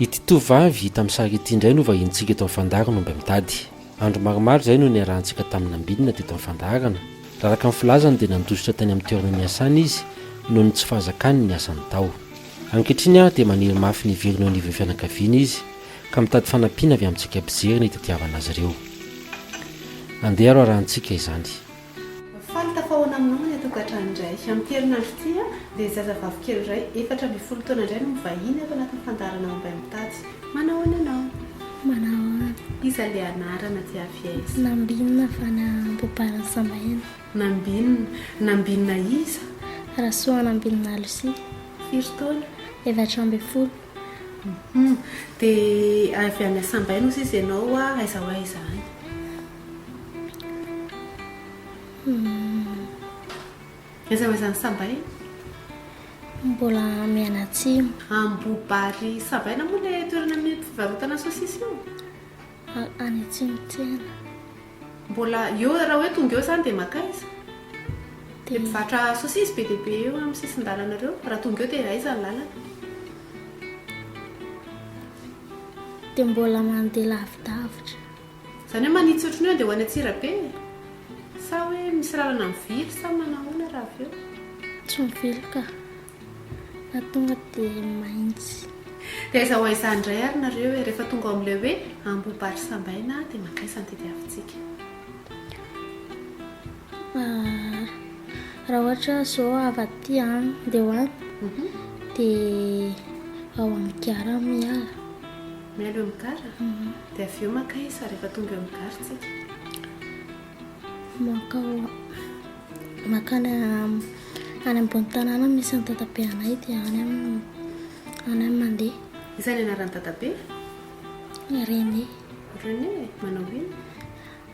Ity tovovavy hita amin'ny sary ity indray no vahinintsika eto amin'ny fandaharo no mba mitady. Andro maromaro izay no niarahantsika tamin'ny nambinina teto amin'ny fandaharana. Raha araka ny filazany dia nandositra tany amin'ny toerana niasany izy noho ny tsy fahazakany ny asany tao. Ankehitriny ary dia maniry mafy ny hiverina eo anivon'ny fianakaviany izy ka mitady fanampiana avy amintsika mpijery ny tetiavana azy ireo. Andeha arahantsika izany. Faly tafahaona aminao ilay tokantrano indray. Amin'ity herinandro ity dia zazavavy kely iray efatra ambin'ny folo taona indray no mivahiny ato anatin'ny fandaharana Omby any Mitatsy. Manahoana ianao? Manahoana? Iza ilay anarana aty Aviez? Nambinina avy any Ambohibariny Sambaiana. Nambinina? Nambinina iza? Rasoa Nambinina Lucie. Firy taona? Efatra ambin'ny folo. Hum. Dia avy any Sambaina osa izy ianao? Aiza ho aiza any? Aiza aiza ny sabay? Mbola mianatsimo. Ambobary Savaina moa ilay toerana misy fivarotana sosisy io? Any atsimo tsena. Mbola eo raha hoe tonga eo izany dia maka aiza? Dia mpivarotra sosisy be dia be eo amin'ny sisin-dalana ireo. Raha tonga eo dia aiza ny lalana? Dia mbola mandeha lavidavitra. Zany hoe manitsy ohatran'ny hoe andeha ho any Antsirabe e! Sa hoe misy lalana mivily sa manao ahoana raha avy eo? Tsy mivily ka! Fa tonga dia maintsy. Dia aiza ho aiza indray ary nareo e! Rehefa tonga ao amin'ilay hoe Ambo Bary Sambaina dia mankaiza no tediavintsika? Raha ohatra izao avy aty any dia ho any dia ao amin'ny Gara Miara. Miala eo amin'ny gara, dia avy eo maka isa rehefa tonga eo amin'ny gara tsika. Mankao, makany any ambony tanàna misy an'i dadabe anay dia any amin'ny any amin'ny mandeha. Iza ny anaran'i dadabe? René. René, manao inona?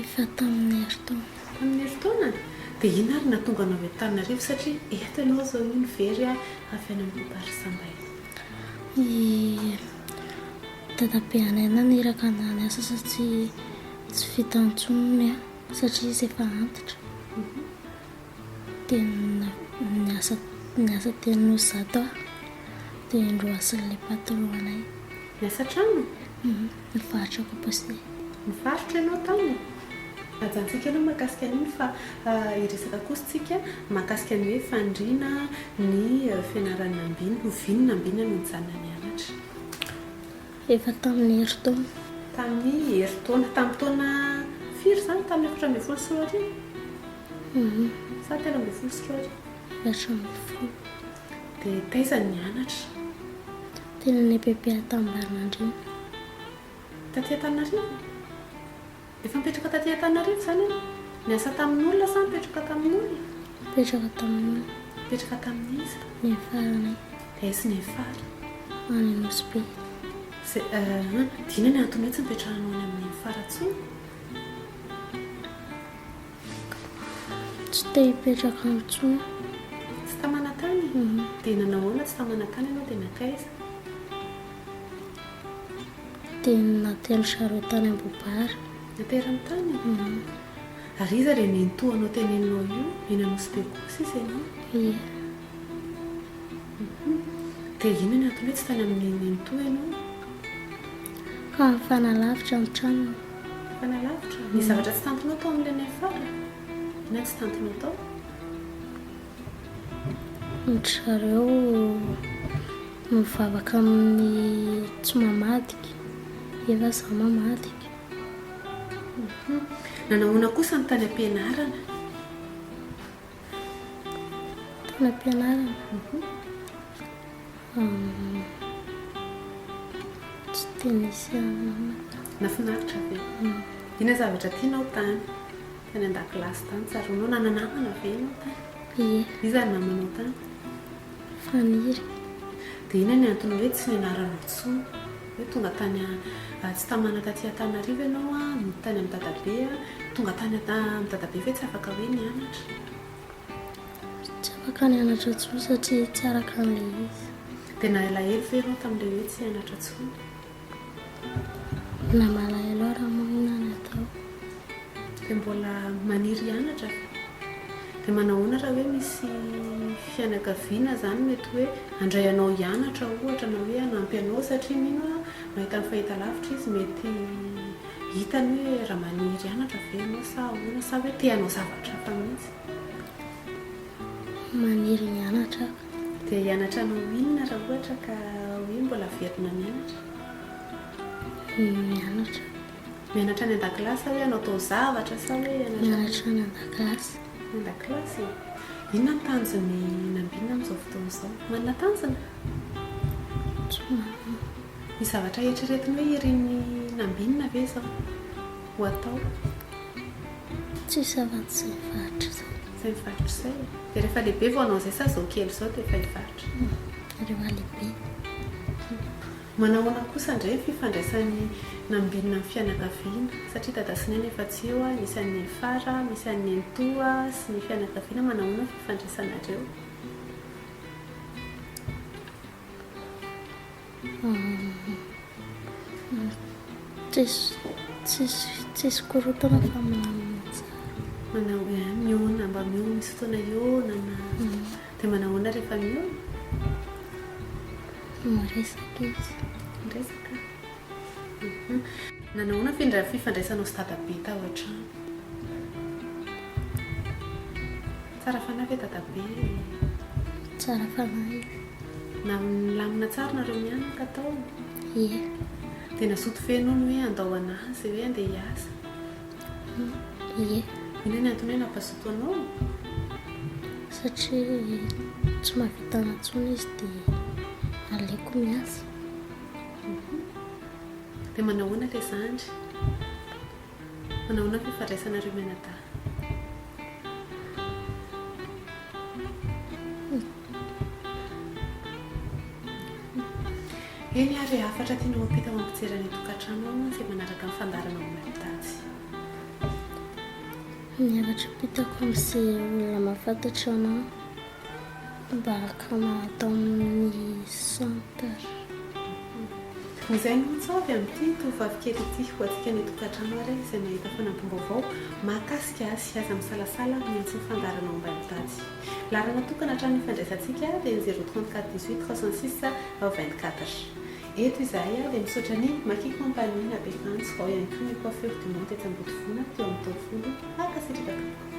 Efa tamin'ny herintaona. Tamin'ny herintaona? Dia inona ary no nahatonga anao eto Tananarivo satria eto ianao izao io ny very a avy any amin'ny Barisambaina. I dadabe anay naniraka anah niasa satria tsy vita intsony ny ahy satria izy efa antitra. Dia niasa niasa teny Nosy zato aho dia indroa sy ilay patron anay. Niasa an-trano? Ny faritra Kaposinay. Nivarotra ianao taminy? Ajantsika aloha ny mahakasika an'iny fa hiresaka kosa tsika mahakasika ny hoe faniriana ny fianaran'ny ambiny. Ho vino ny ambiny no nijanona nianatra. Efa tamin'ny herintaona. Tamin'ny herintaona. Tamin'ny taona firy izany? Tamin'ny efatra ambin'ny folo sy roa arivo? Sa telo ambin'ny folo sy roa arivo? Efatra ambin'ny folo. Dia taiza no nianatra? Teny amin'ny EPP Antananarivo. Taty Antananarivo? Efa nipetraka taty Antananarivo izany ianao? Niasa tamin'olona sa nipetroka tamin'olona? Nipetraka tamin'olona. Nipetraka tamin'iza? Nefaranay. Dia aiza ny Nefara? Any Nosy-Be. Izay, ah, adino ny antony hoe tsy nipetrahanao any amin'ny Nefara intsony? Tsy te hipetraka ao intsony. Tsy ta manatany? Dia nanao ahoana tsy ta manatany ianao dia nankaiza? Dia natery ny zareo tany Ambohibary. Natery ny tany? Ary iza ilay nenitoa anao teny Henao io? Eny Anosibe koa sisa ianao? Ie. Dia inona ny antony hoe tsy tany amin'ny nenitoa ianao? Ka nifanalavitra ny tranony. Fanalavitra ny zavatra tsy tantinao tao amin'ilay miafara na tsy tantinao tao. Ry zareo mivavaka amin'ny tsy mamadika, efa izaho mamadika. Nanao ahoana kosa ny tany am-pianarana? Mpampianarana. Tsy dia nisy anona. Nafinaritra be. Ina zavatra tianao tany? Tany an-dakilasy tany, tsaroanao? Nananamana ve ianao tany? Ie. Iza ny namanao tany? Faniry. Dia inona ny antony hoe tsy nianarana intsony? Hoe tonga tany Atsitamana taty Antananarivo ianao an, nody tany amin'i Dadabe an, tonga tany amin'i Dadabe ve tsy afaka hoe nianatra? Tsy afaka nianatra intsony satria tsy araka an'ilay izy. Dia nahelahelo ve ianao tamin'ilay hoe tsy hianatra intsony? Mbola malahelo aho raha maninona teo. Dia mbola maniry hianatra. Dia manahoana raha hoe misy fianakaviana izany mety hoe handray anao hianatra ohatra na hoe hanampy anao satria mino aho mahita ny fahitalavitra izy mety hitany hoe raha maniry hianatra ve ianao sa ahoana sa hoe te hanao zavatra hafa mihitsy. Maniry mianatra aho. Dia hianatra ny ho inona raha ohatra ka hoe mbola averina mianatra? Mianatra. Mianatra any an-dakilasy sa hoe hanao taozavatra sa hoe hianatra? Mianatra any an-dakilasy. Any an-dakilasy e. Inona ny tanjon'i Nambina amin'izao fotoana izao? Manana tanjona? Tsy manana. Misy zavatra eritreretiny hoe irin'i Nambina ve izao ho atao? Tsisy afa-tsy izay faritra izay. Izay faritra izay e. Dia rehefa lehibe vao hanao izay sa izao kely izao dia efa hivarotra? Rehefa lehibe. Manahoana kosa indray ny fifandraisan'ny Nambinina amin'ny fianakaviana? Satria dada sy neny efa tsy eo, misy an'i Nenifara, misy an'i Nenitoa sy ny fianakaviana, manahoana ny fifandraisanareo? Tsisy korontana fa milamina tsara. Mihaona mba mihaona misy fotoana hihaonana. Dia manahoana rehefa mihaona? Miresaka izy. Miresaka? Nanahoana ny fifandraisanao sy dadabe tao an-trano? Tsara fanahy ve dadabe? Tsara fanahy izy. Na milamina tsara nareo mianaka tao? Ie. Dia nazoto feno ony hoe andao anahy izay hoe andeha hiasa? Ie. Inona ny antony hoe nampazoto anao? Satria tsy mahavita intsony izy dia aleoko miasa. Dia manahoana ilay zandry? Manao ahoana ve fandraisanareo mianadahy? Eny ary e, hafatra tianao ampita ho ampijery any an-tokantrano ao mantsy e, manaraka ny fandaharana momba ny daty. Ny hafatra ampitako amin'izay olona mahafantatra anao. Mpanjakana ato amin'ny centre. Izay no antso avy amin'ity tovovavy kely ity ho antsika any an-tokantrano ary izay mahita fanampim-baovao mahakasika azy. Aza misalasala amin'ny antso nifandaharanao ambany tady. Laharana tokana hatramin'ny ifandraisantsika dia ny zéro trente quatre dix huit trois cent six vingt quatre. Eto izahay dia misaotra ny Maki Company na be antso, ao ihany koa ny Coiffure du Monde etsy Ambodivona teo amin'ny taovolo. Mankasitraka tompoko.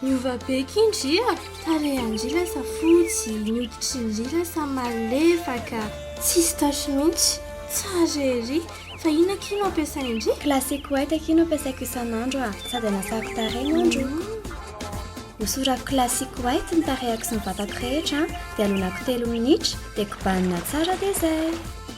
Niova be ky ndry a! Tarehin-dry lasa fotsy, ny hoditrin-dry lasa malefaka. Tsisy tache mihitsy. Tsara ery! Fa inona akia no ampiasain-dry? Classic white akia no ampiasaiko isan'andro a! Sady anasako tarehy no androako. Hosorako classic white ny tarehako sy ny vatako rehetra dia alonako telo minitra dia kobanina tsara dia zay!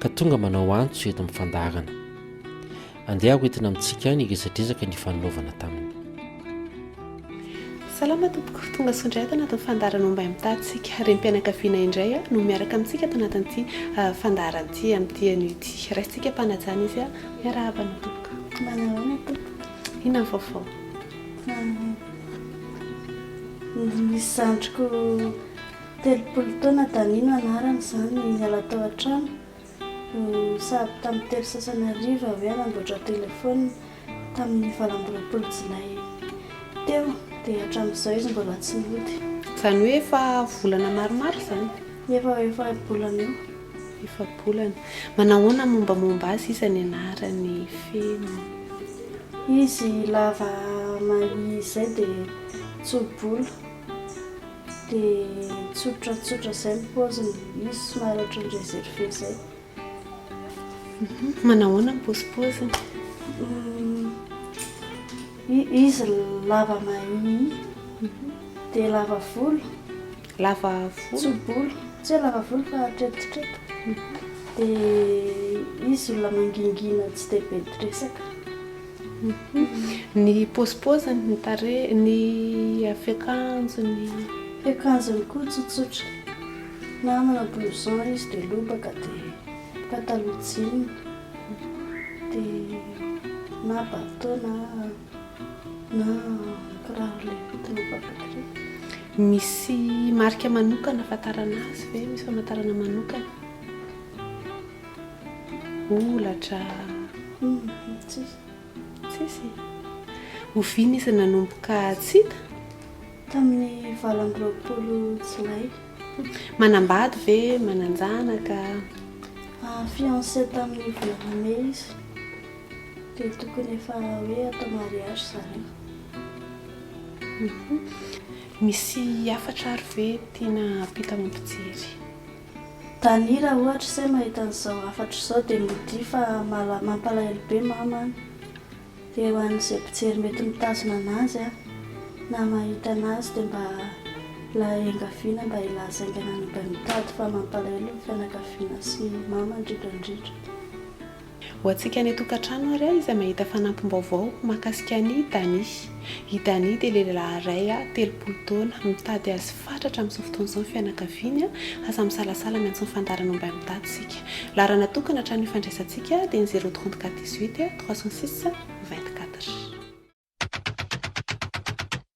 ka tonga manao antso eto amin'ny fandaharana. Andeha ho entina amintsika ny resadresaka nifananaovana taminy. Salama tompoko, tonga soa indray ato anatin'ny fandaharana momba ny mitatsika. Renim-pianakaviana indray no miaraka amintsika ato anatin'ity ah, fandaharana ity amin'ity anio ity. Raisintsika mpanajana izy ah. Miarahaba anao tompoko. Manao ahoana tompoko? Inona ny vaovao? Ah, nisy zandriko Telopolo taona Dani no anarany izany no niala tao an-trano sahabo tamin'ny telo sasany hariva hoe hanamboatra telefaonina tamin'ny valo amby roapolo jolay teo dia hatramin'izao izy mbola tsy nody. Izany hoe efa volana maromaro izany? Efa ho efa-bolana eo. Efa-bolana. Manahoana ny mombamomba azy iza ny anarany feno? Izy lava mahia izay dia tso-bolo. Dia tsotratsotra izay ny paoziny, izy somary ohatran'ny reserve izay. Manao ahoana ny paozipaoziny? Izy lava mahia, dia lava volo. Lava volo? Tso-bolo, tsy hoe lava volo fa tretitreto. Dia izy olona mangingina tsy dia be resaka. Ny paozipaoziny, ny tarehiny, ny fiakanjony. Fiakanjony koa tsotsotra, na amina blouson izy dia lobaka dia pataloha jean dia na bateau na na kiraro le entina mivavaky. Misy marika manokana ahafantarana azy ve? Misy famantarana manokana? Holatra. Tsisy. Tsisy. Oviana izy nanomboka tsy hita? Tamin'ny valo amby roapolo Jolay. Manambady ve? Manan-janaka? Fiancé tamin'ny volana Mey izy. Dia tokony efa hoe atao mariage zareo. Misy hafatra ary ve tiana hampita amin'ny mpijery? Daniela ohatra se mahita an'izao hafatra izao dia modia fa mampalahelo be mama an! dia ho an'izay mpijery mety mitazona anazy an! na mahita anazy dia mba laengaviana mba hilaza haingana ny mba mitady fa mampalahelo ny fianakaviana sy mama indrindra indrindra. Ho antsika any an-tokantrano ary aho izay mahita fanampim-baovao mahakasika an'i Dani. I Dani dia lehilahy iray telopolo taona, mitady azy fatratra amin'izao fotoana izao ny fianakaviany, aza misalasala ny antso ny fandaharana mba mitantsika. Laharana tokana hatramin'ny ifandraisantsika dia ny zéro trente quatre dix huit trois cent six vingt quatre.